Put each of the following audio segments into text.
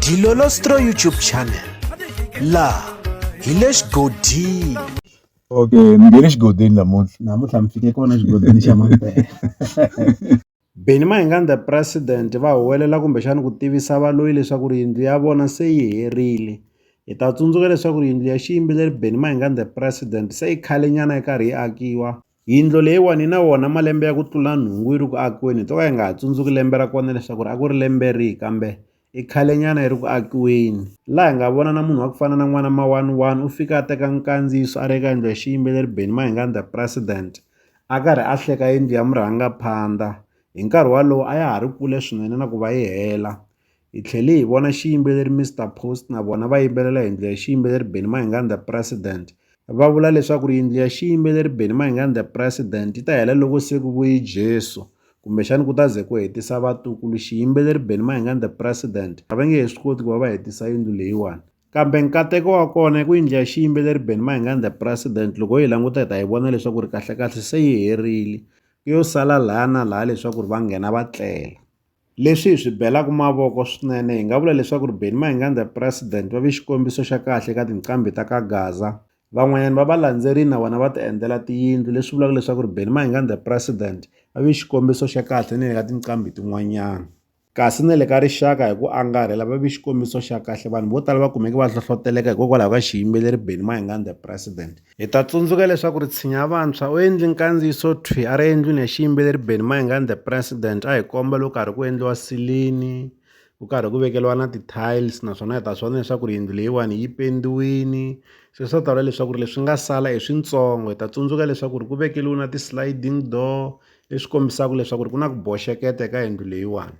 Dilolostro YouTube channel laha hi le xigodini okay ni nge le xigodini namuntlha namuntlha mi fike kona xigodini xa mampela Benny Mayengani the president va huwelela kumbexana ku tivisa valoyi leswaku ri yindlu ya vona se yi herile hi ta tsundzuka leswaku ri yindlu ya xiyimbeleri Benny Mayengani the president se yi khale nyana yi karhi yi akiwa Yindlo leyiwani yi na wona malembe ya ku tlula nhungu yi ri ku akiweni hi to ka hi nga ha tsundzuki lembe ra kona leswaku ri a ku ri lembe rihi kambe i khale nyana yi ri ku akiweni laha hi nga vona na munhu wa ku fana na n'wana mawani wani u fika a teka nkandziyiso a ri eka yindlu ya xiyimbeleri Benny Mayengani the president a karhi a hleka yindlu ya murhangaphandha hi nkarhi walowo a ya ha ri kule swinene na ku va yi hela. Hi tlhele hi vona xiyimbeleri Mister Post na vona va yimbelela yindlu ya xiyimbeleri Benny Mayengani The President. Va vula leswaku ri yindlu ya xiyimbeleri Benny Mayengani The President yi ta hela loko se ku vuyi Jesu kumbexani ku ta ze ku hetisa vatukulu xiyimbeleri Benny Mayengani The President a va nge he swi koti ku va va hetisa yindlu leyiwani kambe nkateko wa kona i ku yindlu ya xiyimbeleri Benny Mayengani The President loko hi languta hi ta yi vona leswaku ri kahlekahle se yi herile yo sala laha na laha leswaku ri va nghena va tlela. Leswi hi swi belaka mavoko swinene hi nga vula leswaku ri Benni Mayengani the President va ve xikombiso xa kahle eka tinqambi ta ka Gaza. Van'wanyana va va landzerile na vona va ti endlela tiyindlu leswi vulaka leswaku ri Benni Mayengani the President va ve xikombiso xa kahle ni le ka tinqambi tin'wanyana. Kasi ni le ka rixaka hi ku angarhela va ve xikombiso xa kahle vanhu vo tala va kumeke va hlohloteleka hikokwalaho ka xiyimbeleri Benni Mayengani the President. Hi ta tsundzuka leswaku Ritshinya Vantshwa u endli nkandziyiso thwi a ri endlwini ya xiyimbeleri Benny Mayengani The President a hi komba loko karhi ku endliwa silini ku karhi ku vekeliwa na ti-tiles naswona hi ta swi vona leswaku ri yindlu leyiwani yi pendiwini se swa ta vula leswaku ri leswi nga sala i swintsongo hi ta tsundzuka leswaku ri ku vekeliwi na ti-sliding door leswi kombisaka leswaku ri ku na ku boxeketa eka yindlu leyiwani.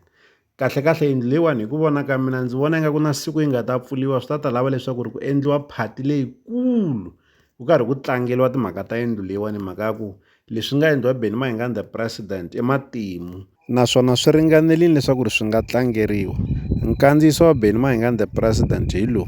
Kahlekahle yindlu leyiwani hi ku vona ka mina ndzi vona ingaku na siku yi nga ta pfuliwa swi ta ta lava leswaku ri ku endliwa phati leyikulu ku karhi ku tlangeliwa timhaka ta yindlu leyiwani hi mhaka ya ku leswi nga endliwa Benny Mayengani the president i matimu naswona swi ringanelini leswaku ri swi nga tlangeriwa nkandziyiso wa Benny Mayengani the president hi lowu